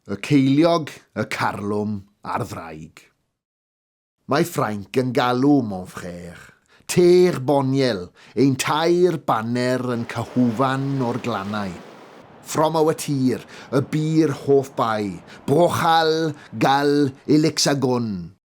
Y ceiliog, y carlwm, a'r ddraig. Mae Ffrainc yn galw mon frère, Teg Boniel, ein tair baner yn cyhwfan o'r glannau. From our tir, y bu'r hoff bai, Brochal, Gal, Elixagon.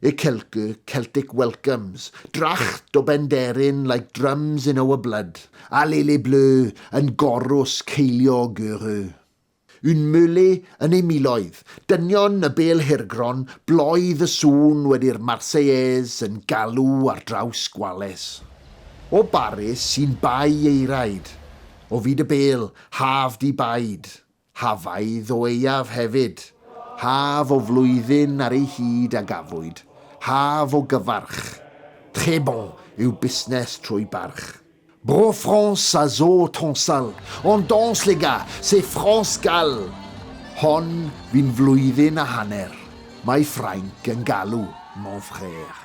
Y Celgw, Celtic Welcomes, dracht o Benderyn like drums in our blood, Allez les Bleus yn gorws ceiliog uru. Un Meulet yn ei miloedd, dynion y bêl hirgron, bloedd y sŵn wedi'r Marseillaise yn galw ar draws Gwales. O Baris sy'n bai ei raid, o fyd y bêl, half-de-bide, Hafaidd o Aeaf hefyd, haf o flwyddyn ar ei hyd a gafwyd, haf o gyfarch. Très bon yw busnes trwy barch. Bro France a zo tonsal, on danse les gars, c'est France Gall! Hon fu'n flwyddyn a hanner, mae Ffrainc yn galw, mon frère.